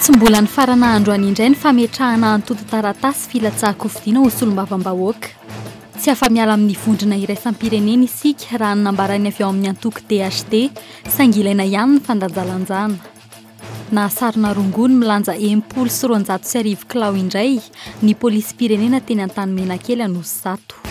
Tsy mbola nifarana andro any indray ny fametrahana antontan-taratasy filatsahan-kofidiana ho solombavambahoaka. Tsy afa-miala amin'ny vondrona iraisam-pirenena isika raha ny nambaran'ny avy ao amin'ny antoko DHD, saingy ilaina ihany ny fandanjalanjana. Nahasarona rongony milanja enimpolo sy roanjato sy arivo kilao indray ny polisim-pirenena teny Antanimenakely Anosizato.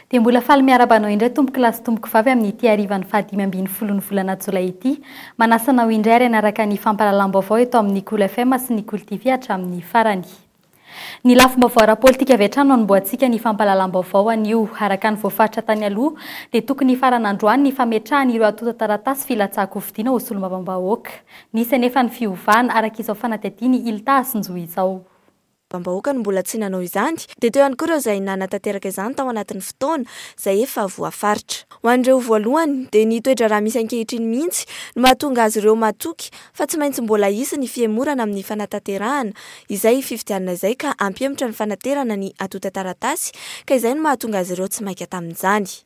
Dia mbola faly miaraba anao indray tompoko lahy sy tompoko vavy amin'ity harivan'ny faha dimy ambin'ny folon'ny volana jolay ity. Manasa anao indray ary hanaraka ny fampahalalam-baovao eto amin'ny Kolo FM sy ny Kolo TV hatramin'ny farany. Ny lafim-baovao ara-politika avy hatrany no anombohantsika ny fampahalalam-baovao anio. Araka ny voafaritra tany aloha dia tokony hifarana androany ny fametrahana ireo antontan-taratasy filatsahan-kofidina ho solombavambahoaka. Nisy anefa ny fiovana, araka izao fanadihadian'i Ilta Asinjo izao. Bambahoaka no mbola tsy nanao izany, dia teo ihany koa ireo izay nanatanteraka izany tao anatin'ny fotoana izay efa voafaritra. Ho an'ireo voalohany, dia ny toe-draharaha misy ankehitriny mihitsy no mahatonga azy ireo matoky fa tsy maintsy mbola hisy ny fihemorana amin'ny fanatanterahana izay fifidianana izay ka hampihemotra ny fanaterana ny atontan-taratasy ka izay no mahatonga azy ireo tsy maika tamin'izany.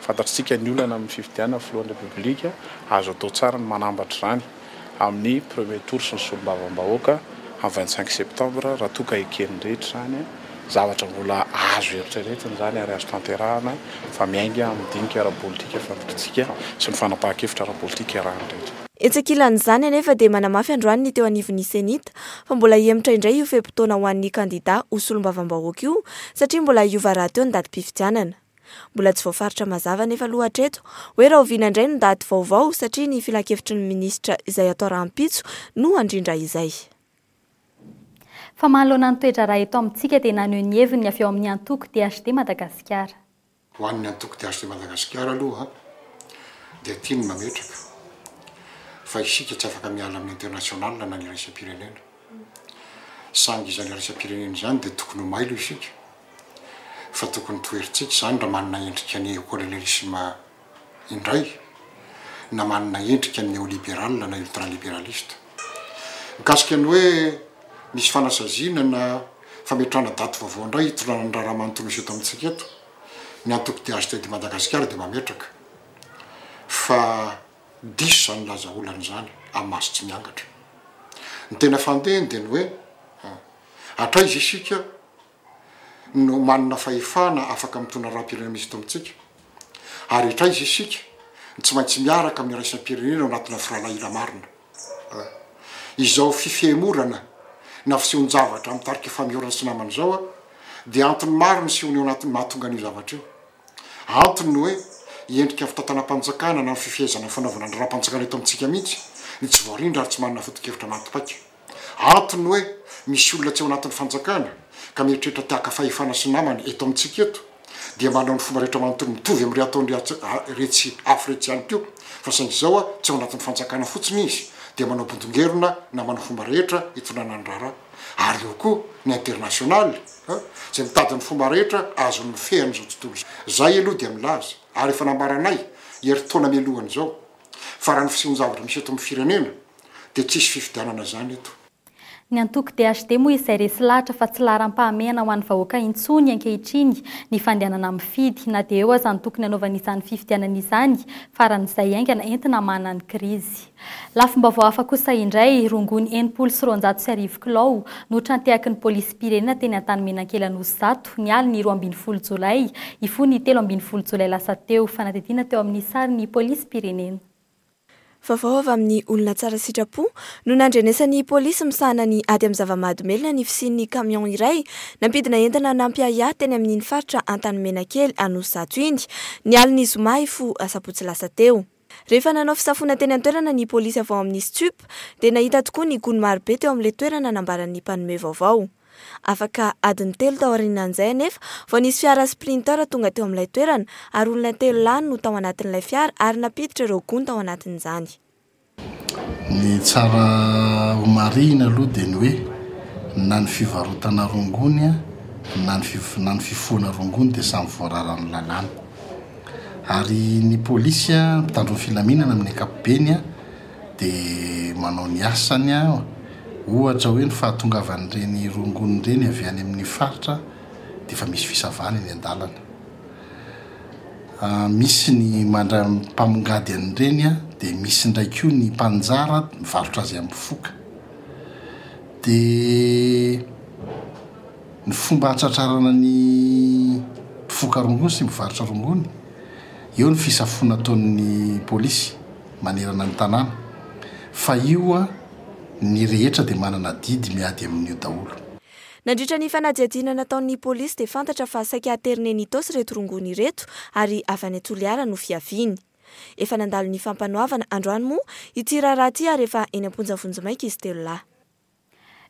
Fantatr'isika ny olana amin'ny fifidianana filohan'ny Repoblika, azo atao tsara ny manambatra izany amin'ny premier tour sy ny solombavambahoaka amin'ny vingt cinq septembre raha toa ka eken'ny rehetra izany, zavatra mbola azo eritreretina izany ary azo tanterahana fa miainga amin'ny dinika ara-politika fantatrintsika sy ny fanapahan-kevitra ara-politika iarahan'ny rehetra. Etsy ankilan'izany anefa dia manamafy androany ny teo anivon'ny Cenit fa mbola hihemotra indray io fe-potoana ho an'ny kandida ho solombavambahoaka io satria mbola hiova rahateo ny datim-pifidianana. Mbola tsy voafaritra mazava anefa aloha hatreto hoe rahoviana indray ny daty vaovao satria ny filankevitry ny minisitra izay atao rahampitso no handrindra izay. Fa manoloana ny toe-draharaha eto amintsika dia naneho ny heviny ny avy ao amin'ny antoko DHD Madagasikara. Ho an'ny antoko DHD Madagasikara aloha dia tiany mametraka fa isika tsy afaka miala amin'ny international na ny iraisam-pirenena. Saingy izany iraisam-pirenena izany dia tokony ho mailo isika fa tokony toherintsika izany raha manana endrika neokolonialisma indray na manana endrika neoliberal na ultraliberaliste. Mikasika ny hoe misy fanasaziana na fametrahana daty vaovao indray hitondrana ny raharaha manontolo miseho eto amintsika eto, ny antoko DHTD Madagasikara dia mametraka fa. diso izany milaza olana izany amin'ny maso tsy miangatra. Ny tena fandehany dia ny hoe, hatraiza isika no manana fahefana afaka mitondra raharaham-pirenena misy eto amintsika? Ary hatraiza isika no tsy maintsy miaraka amin'ny iraisam-pirenena ao anatina firahalahiana marina? Izao fifehemorana na fisehoan-javatra amin'ny tarika Famiorana sy Namana izao dia antony maro nisehoany ao anatin'ny mahatonga an'io zavatra io. Antony ny hoe endrika fitantanam-panjakana na ny fifehezana ny fanaovana ny raha-panjakana eto amintsika mihitsy ny tsy voarindra ary tsy manana foto-kevitra maty paika. Antony ny hoe misy olona tsy ao anatin'ny fanjakana ka mieritreritra te haka fahefana sy namana eto amintsika eto dia manao ny fomba rehetra manontolo mitovy amin'ireo ataon'iretsy afo iretsy ihany koa fa saingy izao tsy ao anatin'ny fanjakana fotsiny izy dia manao bondongerona na manao fomba rehetra hitondrana ny raharaha ary eo koa ny internasionaly An, izay mitady ny fomba rehetra azony mifehy an'izao tontolo izao. Izahay aloha dia milaza, ary efa nambaranay herintaona mialohan' izao, fa raha ny fisehoan-javatra misy eto amin'ny firenena, dia tsisy fifidianana izany eto. Ny antoko DHD moa izay resy lahatra fa tsy laharam-pahamehana ho an'ny vahoaka intsony ankehitriny ny fandehanana mifidy, na dia eo aza ny tokony hanaovana izany fifidianana izany, faran'izay haingana entina hamahana ny krizy. Lafim-baovao hafa kosa indray, rongony enimpolo sy roanjato sy arivo kilao no trantehaky ny polisim-pirenena teny Antanimena-Ankelan'Osy Zato, ny alin'ny roa ambin'ny folo jolay hifoin'ny telo ambin'ny folo jolay lasa teo. Fanadihadiana teo amin'ny sary ny polisim-pirenena. Vaovao avy amin'ny olona tsara sitrapo no nandrenesan'ny polisy misahana ny ady amin'ny zava-mahadomelina ny fisian'ny camion iray nampidina entana nampiahiahy teny amin'iny faritra Antanimena kely Anosizato iny, ny alin'ny zoma hifoha asabotsy lasa teo. Rehefa nanao fisafoana teny an-toerana ny polisy avy ao amin'ny Stup dia nahita tokoa ny gony marobe teo amin'ilay toerana nambaran'ny mpanome vaovao. Afaka adiny telo taorianan'izay anefa vao nisy fiara Sprinter tonga teo amin'ilay toerana ary olona telo lahy no tao anatin'ilay fiara ary nampiditra ireo gony tao anatin'izany. Ny tsara ho marihina aloha dia ny hoe na ny fivarotana rongony na ny fifohana rongony dia samy voararan'ny lalàna. ary ny polisy an mpitandro ny filaminana amin'ny ankapobeny an dia manao ny asany an ohatra hoe ny fahatongavan'ireny rongony ireny avy any amin'ny faritra dia efa misy fisavana eny an-dalana misy ny mandray mpamongady an'ireny an dia misy indray koa ny mpanjara mivarotra azy amin'ny foka dia Ny fomba hahatratrarana ny mpifoka rongony sy mpivarotra rongony, eo ny fisafoana ataon'ny polisy manerana ny tanàna, fa io ny rehetra dia manana adidy miady amin'io daholo. Nandritra ny fanadihadiana nataon'ny polisy dia fantatra fa saika aterina eny Itaosy ireto rongony ireto ary avy any Toliara no fiaviany. Efa nandalo ny fampanoavana androany moa ity raharaha ity ary efa eny am-ponja vonjimaika izy telo lahy.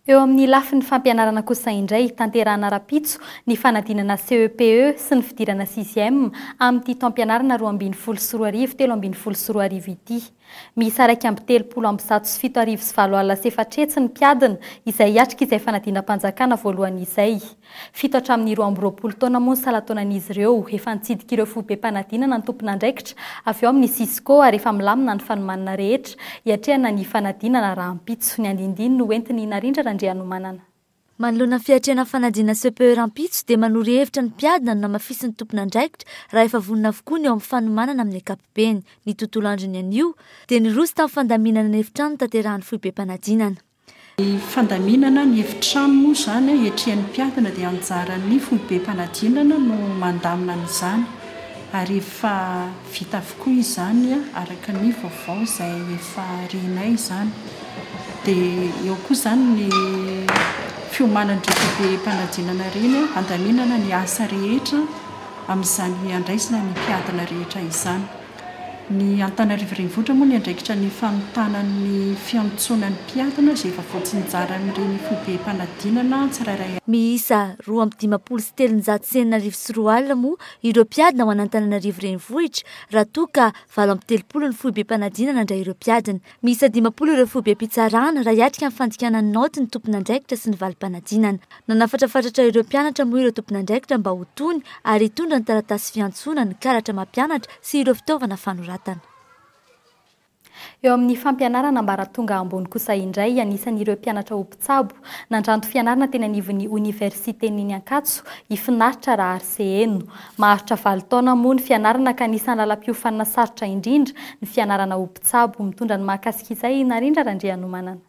Eo amin'ny lafiny fampianarana kosa indray, tanterahana rahampitso ny fanadinana CEPE sy ny fidirana sixième amin'ity taom-pianarana roa ambin'ny folo sy roa arivo telo ambin'ny folo sy roa arivo ity. Miisa iraika amby telopolo amby zato sy fito arivo sy valo alina sy efatrehetsy ny mpiadina izay hiatrika izay fanadinam-panjakana voalohany izay. Fito hatramin'ny roa amby roapolo taona moa ny salan-taonan'izy ireo. Efa nitsidika ireo foibem-panadinana ny tompon'andraikitra avy ao amin'ny Cisco ary efa milamina ny fanomanana rehetra hiatrehana ny fanadinana rahampitso. Ny andinindiny no hoentin'i Narindra Randrianomanana. Manoloana ny fiatrehana ny fanadinana CPE rahampitso dia manoro hevitra ny mpiadina ny namafisin'ny tompon'andraikitra raha efa vonona avokoa ny eo amin'ny fanomanana amin'ny ankapobeny. Ny tontolo androny anio dia niroso tamin'ny fandaminana ny efitrano nitanterahany foibem-panadinana. Ny fandaminana ny efitrano moa izany ankehitriny mpiadina dia anjaran'ny foibem-panadinana no mandamina an'izany ary efa vita avokoa izany araka ny vaovao izay efa renay izany. Dia eo koa izany ny fiomanan'ireny foibem-panadinana ireny handaminana ny asa rehetra amin'izany handraisana ny mpiadina rehetra izany. Ny Antananarivo Renivohitra moa ny andraikitra ny fanontana ny fiantsoana ny mpiadina izay efa voatsinjaran'ireny fobem-panadinana tsirairay avy. Miisa roa amby dimampolo sy telonjato sy enina arivo sy roa alina moa ireo mpiadina ho an'Antananarivo Renivohitra raha toa ka valo amby telopolo ny foibem-panadinana nandray ireo mpiadina. Miisa dimampolo ireo foibem-pitsarana, raha hiatrika ny fandikana ny naoty ny tompon'andraikitra sy ny valim-panadinana. Nanafatrafatratra ireo mpianatra moa ireo tompon'andraikitra mba ho tony ary hitondra ny taratasy fiantsoana, ny karatra mampianatra sy ireo fitaovana fanoratana. Eo amin'ny fampianarana ambaratonga ambony kosa indray, anisan'ireo mpianatra ho mpitsabo, nandranto fianarana teny anivon'ny Oniversiten'iny Ankatso, i Finaritra Rahariseheno. Maharitra valo taona moa ny fianarana ka anisan'ny lalam-piofanana sarotra indrindra ny fianarana ho mpitsabo. Tsabo mitondra ny mahakasika izay i Narindra Randrianomanana.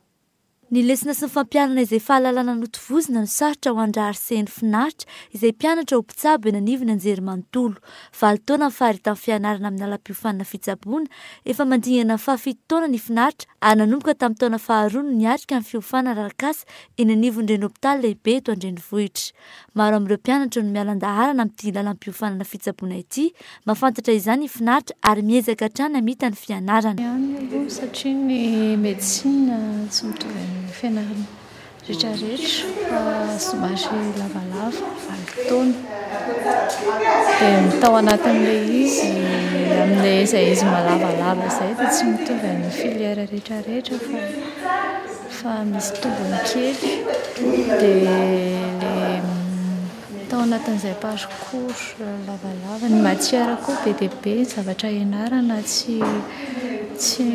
Ny lesona sy ny fampianana izay fahalalana notovozina no sarotra ho an-drahary seheno finaritra izay mpianatra ho mpitsabo eny anivon'ny anjerimanontolo. Valo taona ny faharetan'ny fianarana amin'ny lalam-piofanana fitsaboana. Efa mandingana ny fahafito taona ny finaritra ary nanomboka tamin'ny taona faharoa no niatrika ny fiofanana arakasa eny anivon'ireny hopitaly lehibe eto an-drenivohitra. Maro amin'ireo mpianatra no miala an-daharana amin'ity lalam-piofanana fitsaboana ity. Mahafantatra izany i Finaritra ary miezaka hatrany hamita ny fianarana. Ihany aloha satria ny medecine tsy mitovy amin'ny fianarana rehetra rehetra fa somary lavalava valo taona dia ny tao anatin'ilay izy amin'ilay izay izy malavalava izay dia tsy mitovy amin'ny filière rehetra rehetra fa Fa misy tombony kely de le tao anatin'izay parcours lavalava ny matière koa be dia be ny zavatra ianarana tsy tsy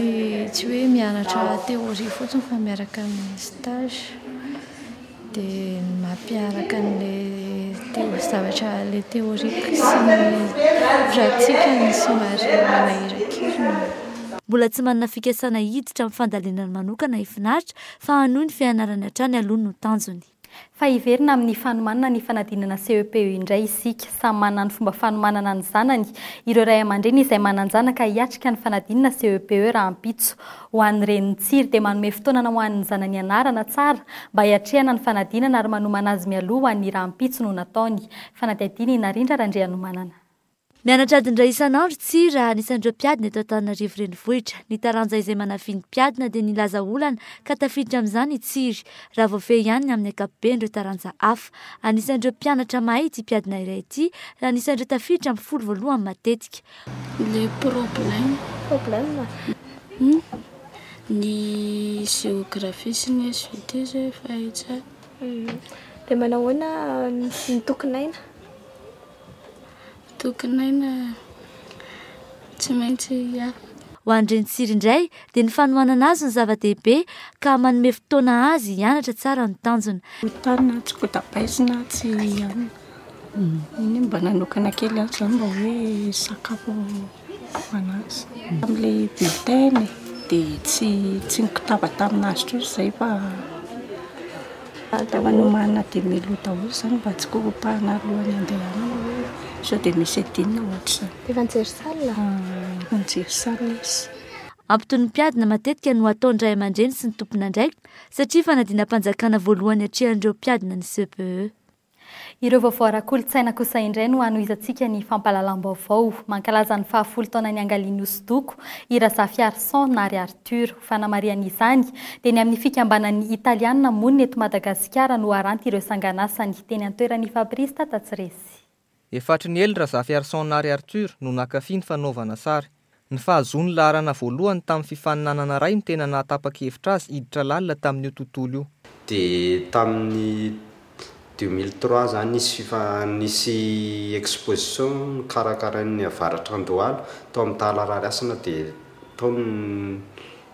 tsy hoe mianatra théorie fotsiny fa miaraka amin'ny stage. Dia ny maha mpiaraka an'ilay zavatra ilay théorique sy ny pratique no somary manahiran-kiriny. Mbola tsy manana fikasana hiditra amin'ny fandalinana manokana i Finaritra fa hanohy ny fianarany hatrany aloha no tanjony. Fa hiverina amin'ny fanomanana ny fanadinana CEP io indray isika. Samy manana ny fomba fanomanana ny zanany ireo ray aman-dreny izay manan-janaka hiatrika ny fanadinana CEPE rahampitso. Ho an'ny reny mitsiry dia manome fotoanana ho an'ny zanany hianarana tsara mba hiatrehana ny fanadinana ary manomana azy mialoha ho an'ny rahampitso no nataony. Fanadihadiana i Narindra Randrianomanana. Mianatra adin-dray isan'andro tsy ra anisan'ireo mpiadina eto Antananarivo Renivohitra. Ny taranja izay manafin'ny mpiadina dia nilaza olana ka tafiditra amin'izany i Tsiry, raha voafehy ihany ny amin'ny ankapoben'ireo taranja hafa. Anisan'ireo mpianatra mahay ity mpiadina iray ity, raha anisan'ireo tafiditra amin'ny folo voalohany matetika. Le problème. Problème? Ny géographie sy ny SVT zao efa hay tsara. Dia manao ahoana ny tokin'aina? Tokin'aina tsy maintsy afaka. Ho an'i Renitsiry indray dia ny fanohanana azy no zava-dehibe ka manome fotoana azy hianatra tsara ny tanjona. Tany na tsy kotapaizina tsy hianatra. Eny mba nanokana kely aho zany mba hoe hisakafo an'azy. Tamin'ilay bulletin e, dia tsy tsy nikotaba tamin'azy intsony izay fa fa nomanina dia melo daholo izany mba tsy korontana alohan'ny handehanana hoe sao dia misy adinony ohatr'izany. Efa nijery salle? Efa nijery salle izy. Antontom-piadina matetika no ataon'ny ray aman-dreny sy ny tompon'andraikitra satria fanadinam-panjakana voalohany atrehan'ireo mpiadina ny CPE. Ireo vaovao ara-kolontsaina kosa indray no hanohizantsika ny fampahalalam-baovao. Mankalaza ny fahafolo taona niangalian'ny hosodoko i Razafiarison na ry Arthur. Ho fanamarihana izany dia ny amin'ny fikambanan'ny Italiana monina eto Madagasikara no haranty ireo sanganasany teny an-toeran'i Fabrice Tatatsiresy. Efatriniely Razafiarison Nary Arthur no nankafy ny fanaovana sary. Ny fahazoany laharana voalohany tamin'ny fifaninanana iray no tena nahatapa-kevitra azy hiditra lalina tamin'io tontolo io. Dia tamin'ny deux mille trois izany nisy fifa, nisy exposition nokarakarain'ny Avaratra Andohalo tao amin'ny Tala Rarihasina dia tao no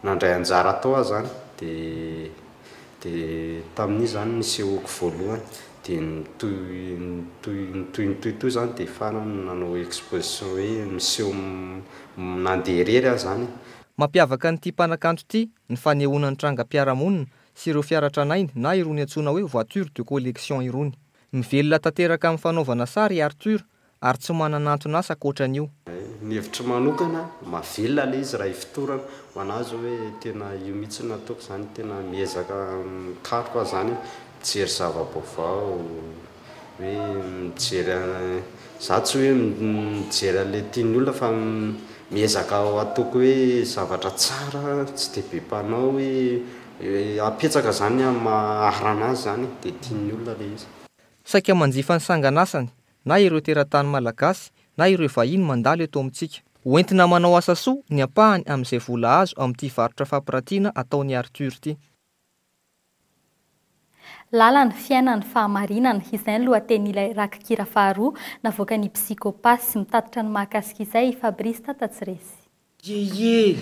nandray anjara tao aho izany dia. Dia tamin'iny izany nisehoako voalohany, dia nitohy nitohy nitohy nitohy toy izany dia farany nanao exposition hoe miseho nandeha irery aho izany e! Mampiavaka an'ity mpanakanto ity ny fanehoana ny trangam-piarahamonina sy ireo fiara tranainy na irony antsoina hoe voiture de collection irony. Mivelona tanteraka amin'ny fanaovana sary i Arthur ary tsy manana anton'asa ankoatra an'io. Ny hevitro manokana, mahavelona ilay izy raha ifotorana. Ho an'ahy izao hoe tena io mihitsy no ataoko izany, tena miezaka mikaroka aho izany, mijery zava-baovao, hoe mijery an, za tsy hoe mijery an'ilay tian'ny olona fa miezaka ataoko hoe zavatra tsara, tsy dia be mpanao hoe, apetsaka izany amin'ny maha rana azy izany e, dia tian'ny olona ilay izy. Saika manjifa ny sangan'asany na ireo teratany malagasy na ireo vahiny mandalo eto amintsika. Ho entina manao asa soa ny ampahany amin'izay vola azo amin'ity varotra fampiratiana ataon'i Arthur ity. Lalana, fiainana, fahamarinana, izay ny lohatenin'ilay rakikira faharoa navoakan'i Psychopathe. Mitatitra ny mahakasika izay i Fabrice Tatatsiresy. Yeye!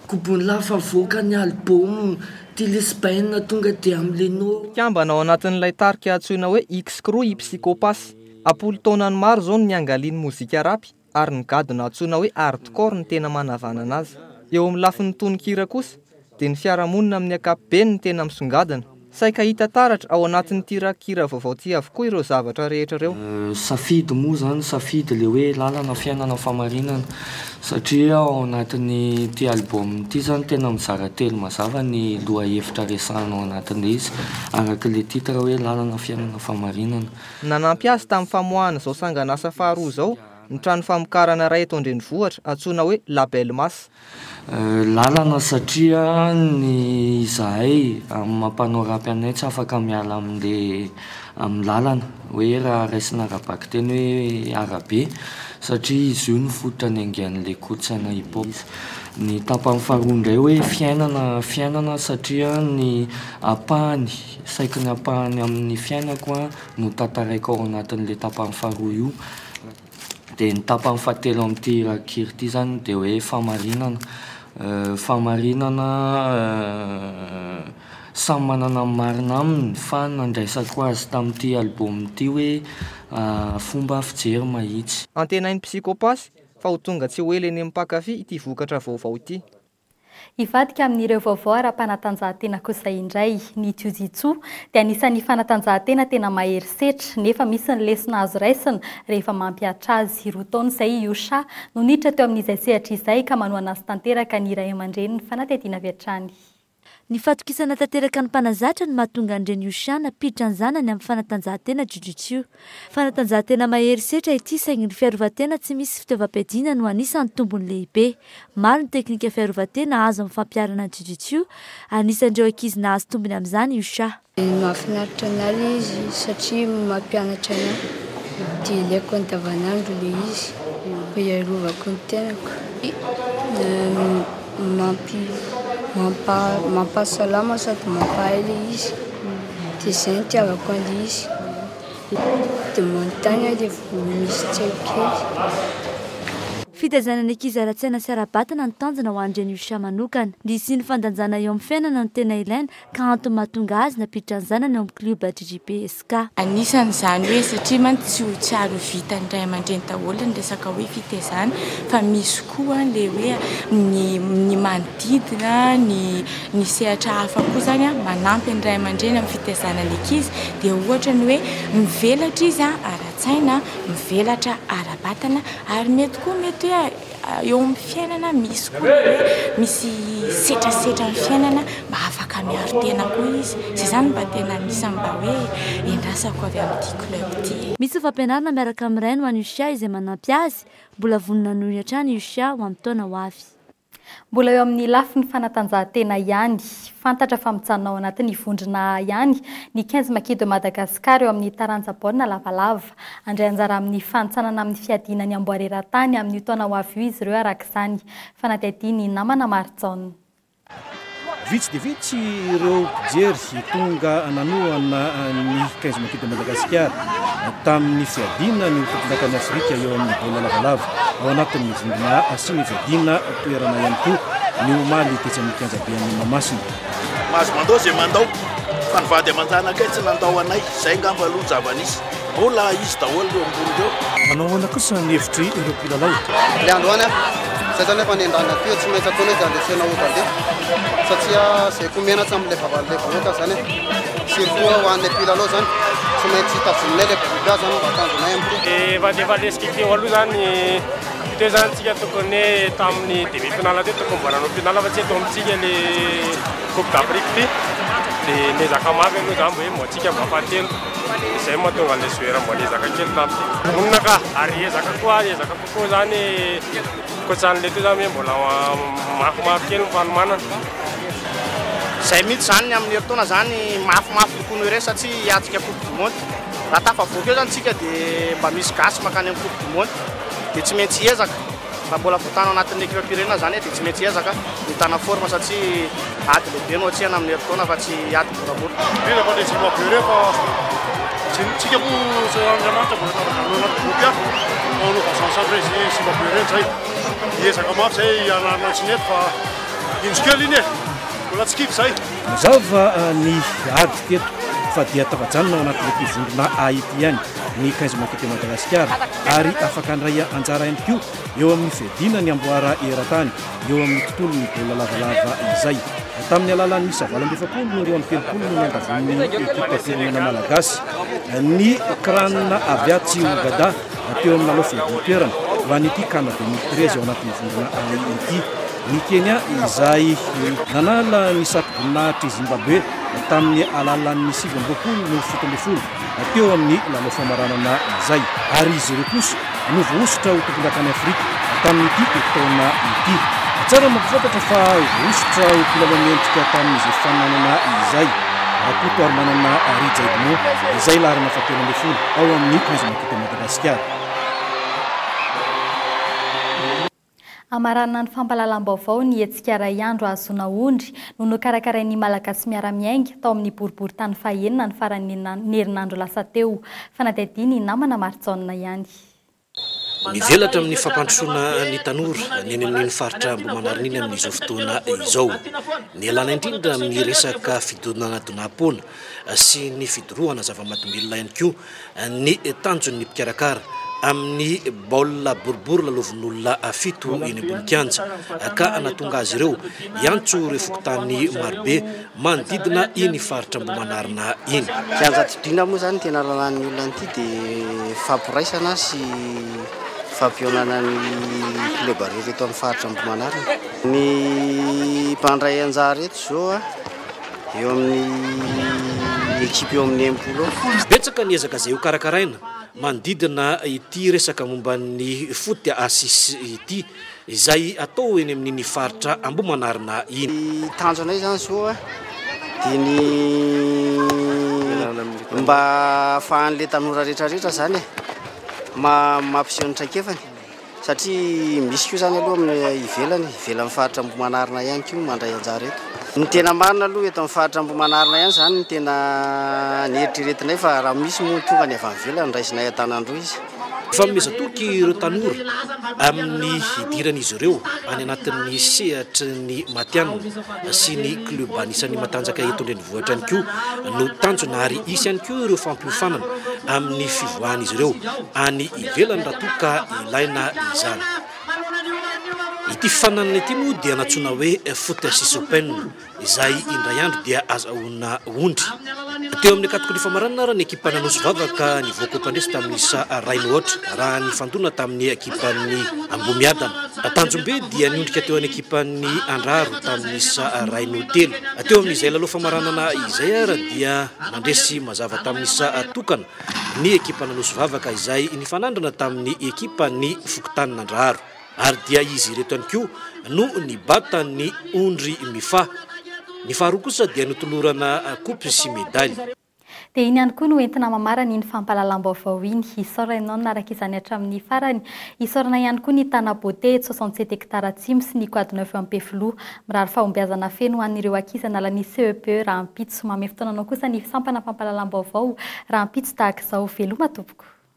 Gobon'ny lafa mivoaka ny album Ty lesbian tonga dia milenoo. Mpikambana ao anatin'ilay tarika antsoina hoe X-Crew i Psychopass. Am-polo taonany maro izao no niangalian'ny mozika rapy, ary ny gadona antsoina hoe hardcore no tena manavanana azy. Eo amin'ny lafiny tononkira kosa, dia ny fiarahamonina amin'ny ankapobeny no tena misongadina. Saika hita taratra ao anatin'ity rakikira vaovao ity avokoa ireo zavatra rehetra ireo. Safidy moa izany, safidy ilay hoe lalana, fiainana, fahamarinana, satria ao anatin'ity album ity izany tena mizara telo mazava ny lohahevitra resahina ao anatin'ilay izy, araka ilay titre hoe lalana, fiainana, fahamarinana. Nanampy azy tamin'ny famoahana izao sanganasa faharoa izao ny trano famokarana iray eto an-drenivohitra antsoina hoe Label Mass. Lalana satria ny izahay amin'ny maha mpanao rap anay tsy afaka miala amin'le amin'ny lalana hoe raha raisina ara-bakiteny hoe arabe satria izy io no fototra niaingan'le kolotsaina hip hop. Ny tapany faharoa indray hoe fiainana fiainana satria ny ampahany saiky ny ampahany amin'ny fiainako no tantaraiko ao anatin'le tapany faharoa io. Dia ny tapany fahatelo amin'ity rakikira ity izany dia hoe fahamarinana. Fahamarinana samy manana ny marina aminy fa ny nandraisako azy tamin'ity album ity hoe fomba fijery mahitsy. Antenain'i Psychopass fa ho tonga tsy ho ela eny amin'ny mpankafy ity vokatra vaovao ity. Hivadika amin'ireo vaovao ara-panatanjahantena kosa indray ny Jiu-Jitsu dia anisan'ny fanatanjahantena tena mahery setra nefa misy ny lesona azo raisina rehefa mampihatra azy. Roa taona izay i Yusha no niditra teo amin'izay sehatra izay ka manohana azy tanteraka ny ray aman-dreniny fanadihadiana avy hatrany. Ny fahatokisana tanteraka ny mpanazatra no mahatonga ny reny Yusha nampiditra ny zanany amin'ny fanatanjahantena Jiu-Jitsu. Fanatanjahantena mahery setra ity saingy ny fiarovan-tena tsy misy fitaovam-piadiana no anisan'ny tombony lehibe. Maro ny teknika fiarovan-tena azo amin'ny fampiharana ny Jiu-Jitsu, anisan'ireo ankizy nahazo tombony amin'izany Yusha. Mahafinaritra anah le izy satria mampianatra anah de ilaiko andavanandro le izy mba hiarovako ny tenako mampahasalama sady mampahay le izy de zay no itiavako anle izy de manontany aho rehefa misy tsy haiko kely. Fitaizana ny ankizy ara-tsaina sy ara-batana no tanjona ho an'i Reny Usha manokana. Ny hisian'ny fandanjana eo amin'ny fiainana no tena ilaina ka antony mahatonga azy nampiditra ny zanany ao amin'ny klioba JJP SK. Anisan' izany hoe satria mantsy tsy ho tsy ary ho vitan'ny ray aman-dreny daholo ny resaka hoe fitaizana fa misy koa ilay hoe ny ny manodidina, ny ny sehatra hafa koa izany manampy ny ray aman-dreny amin'ny fitaizana ny ankizy dia ohatra ny hoe mivelatra izy ara-tsaina, mivelatra ara-batana ary mety koa mety hoe. Eo amin'ny fiainana misy koa ny hoe misy setrasetra ny fiainana mba afaka miaro tena koa izy. Izay izany mba tena anisan'ny mba hoe iandrasako avy amin'ity club ity. Misy fampianarana miaraka amin'ny rainy ho an'i Yushia izay manampy azy mbola vonona hanohy hatrany i Yushia ho amin'ny taona ho avy. Mbola eo amin'ny lafiny fanatanjahantena ihany. Fantatra fa mijanona ao anatin'ny vondrona A ihany ny quinze Maki de Madagascar eo amin'ny taranja baolina lavalava. Handray anjara amin'ny fanintsanana amin'ny fiadiana ny amboara eran-tany amin'io taona ho avy io izy ireo araka izany fanadihadian'ny namana Marijaona. Vitsy dia vitsy ireo mpijery tonga nanohana ny quinze Maquis de Madagascar tamin'ny fiadiana ny ho tompondakan'i Afrika eo amin'ny baolina lavalava ao anatin'ny vondrona sy ny fiadiana toerana ihany koa ny omaly tetsy amin'ny kianja be an'i Mahamasina. Mahazo mandao izay mandao fa ny vady aman-janakay tsy nandao anay, izay angamba aloha ny zava-nisy. Mbola izy daholo ireo ambony ireo. Manao ahoana kosa ny hevitry ireo mpilalao? Ilay androany an! Izay izany efa nendahana teo, tsy maintsy ataonay izay andresena ho tale satria izay koa menatra amin'ilay vavan'ilay vahoaka izany an! Surtout ho anay mpilalao izany, tsy maintsy tazominay ilay groupe A izany mba tanjonay amin'ity. Efa efa lesik'ity teo aloha izany. Teo izany tsika tokony tamin'ny demi finale teo tokony mbola nanao finale fa tsy eto amintsika le coupe d'Afrique ty dia niezaka mafy aloha izany mba hoe mba tsika mba fahatelo izay mahatonga an'ilay joueur mba niezaka kely tamin'ity vonona ka ary hiezaka koa ary hiezaka kokoa izany koatsan'ilay teo izany hoe mbola mafy mafy kely ny fanomanana izay mihitsy izany ny amin'ny herintaona izany mafy mafy kokoa noho ireny satsia hiatrika coupe du monde Raha tafavoaka eo zany tsika de mba misy gasy makany am coupe du monde de tsy maintsy hiezaka raha mbola voatana anatin'ny ekipam-pirenena zany de tsy maintsy hiezaka mitana forme satria ady lehibe no atsihana amin'ny herintaona fa tsy ady moramora. Indrindra fa le Zimbabwe reo fa tsy tsika moa Andriamanitra mbola nanaovana an'ireo anaty groupe ihany fa anao vazaha sandray ze Zimbabwe reny zay hiezaka mafy zay hianarana ny tsy nety fa indro kely iny e mbola tsy kivy zay. Mazava ny ady teto fa dia tafajanona ao anatin'ity vondrona A ity ihany ny Kaiza Motote Madagasikara ary afaka handray anjara ihany koa eo amin'ny fiadiana ny amboara eran-tany eo amin'ny tontolon'ny baolina lavalava izay tamin'ny alalan'ny isa valo amby efapolo no roa amby telopolo no niangavon'ny ekipam-pirenena malagasy ny cran avy atsy Ougada teo amin'ny lalao fiadian-toerana ho an'ity Can 2013 ao anatin'ny vondrona A ity. Ny Kenya, izay nanala ny satroboninahitry Zimbabwe tamin'ny alalan'ny sivy amby roapolo no fito ambin'ny folo teo amin'ny lalao famaranana izay, ary izy ireo kosa no voahosotra ho tompondakan'i Afrika tamin'ity taona ity. Tsara mampahafantatra fa voahosotra ho mpilalao mendrika tamin'izay fananana izay Rakotoarimanana Rija Edmond, izay laharana fahatelo ambin'ny folo ao amin'ny Haizina Kit Madagasikara. Hamaranana ny fampahalalam-baovao ny hetsika iray andro hahazoana ondry no nokarakarain'ny Malagasy Miara-Miainga tao amin'ny boriborintany fahenina ny faran'ny herinandro lasa teo. Fanadihadian'ny namana Marijaona ihany. Mivelatra amin'ny fampandrosoana ny tanora ny any amin'iny faritra Ambohimanarina iny amin'izao fotoana izao. Nialana indrindra amin'ny resaka fidonanadonam-poana sy ny fidorohana zava-mahadomelina ihany koa Ny tanjon'ny mpikarakara amin'ny baolina boribory lalaovin'olona fito eny ambony kianja ka hanatonga azy ireo hiantso ireo fokontany marobe manodidina iny faritra Ambohimanarina iny. Kianja Didina moa izany ny tena lalàn'ny olona an'ity dia fampiraisana sy fampihaonana ny kleba rehetra eto amin'ny faritra Ambohimanarina. Ny mpandray anjara eto izao a! eo amin'ny ekipa eo amin'ny impolo eo. Betsaka ny ezaka izay hokarakaraina manodidina ity resaka momba ny foot assis ity izay atao eny amin'iny faritra Ambohimanarina iny. Ny tanjonay izany izao dia ny mba ahafahan'ilay tanora rehetra rehetra izany mampiseho ny traikefany. Satria misy koa izany aloha amin'ny ivelany, ivelan'ny faritra Ambohimanarina ihany koa mandray anjara eto. Ny tena marina aloha eto amin'ny faritra Ambohimanarina ihany izany no tena nieritreretinay fa raha misy moa ny tonga ny avy any ivelany raisinay an-tanandroa izy. Fanomezan-toky ireo tanora amin'ny hidiran'izy ireo any anatin'ny sehatry ny matihanina sy ny klioba anisan'ny matanjaka eto an-drenivohitra. Vohitra ihany koa no tanjona ary hisy ihany koa ireo fampiofanana amin'ny fivoahan'izy ireo any ivelany raha toa ka ilaina izany. Ity fifaninanana ity moa dia nantsoina hoe Foot Six Open izay indray andro dia azahoana ondry. Teo amin'ny kategoria famaranana ary ny ekipan'ny Anosy Vava ka nivoaka ho mpandresy tamin'ny isa iray mihoatra raha nifandona tamin'ny ekipan'ny Ambohimiadana. Tanjombe dia niondrika teo an'ny ekipan'ny Andraro. tamin'ny isa iray no telo. Teo amin'izay lalao famaranana izay ary dia nandresy mazava tamin'ny isa tokana ny ekipa Anosy Vavaka izay nifanandrina tamin'ny ekipa ny fokontany Nandraharo ary dia izy ireto ihany koa no nibata ny ondry mifaha. Ny faharoa kosa dia notolorana kopy sy medaly. Dia iny ihany koa no entina mamarana iny fampahalalam-baovao iny. Isaorana anao nanaraka izany hatramin'ny farany. Isaorana ihany koa ny Tana Beauté eto soixante sept hectares Atsimo sy ny Quad Neuf Ampefiloha. Mirary fahombiazana feno ho an'ireo ankizy hanala ny CEPE rahampitso. Manome fotoana anao kosa ny sampana fampahalalam-baovao rahampitso tahaka izao. Veloma tompoko.